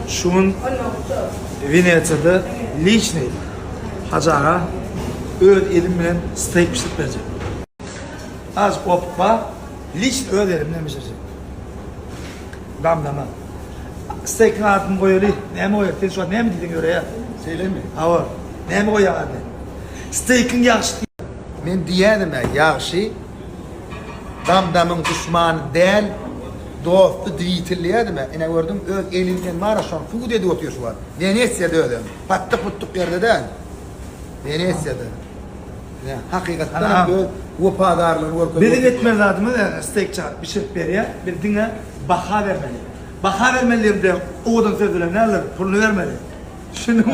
Şu gün Wenesiýada liçni Hajy aga öz elim bilen steýk bişirip berjek. Az opukba liçni öz elim bilen bişirjek. Damlama. Steýkiň adyny goýaly. Näme goýaýyk? Sen şu wagt näme diýseň ýöreýär. Şeýlemi? Hawa. Näme goýaýyň adyny? Steýkiň ýagşy diý. Men diýýädim-ä, ýagşy. Dam-damyň duşmany däl, dosty dwitel diýýädim-ä. Ine, gördüňmi, öz eli bilen bar-a, şony subut edip otyr şu wagt. Wenesiýada özem. Patdyk-putdyk ýerde däl. Wenesiýada. Ine, hakykatdanam öz wepadarlygyny görkezip otyr. Biziň etmeli zadymyz, ýa Steýk çagyryp bişirip berýär, biz diňe. Baha bermeli. Baha bermeli diýemde owadan söz bilen näler, puluny bermeli. Düşündiňmi?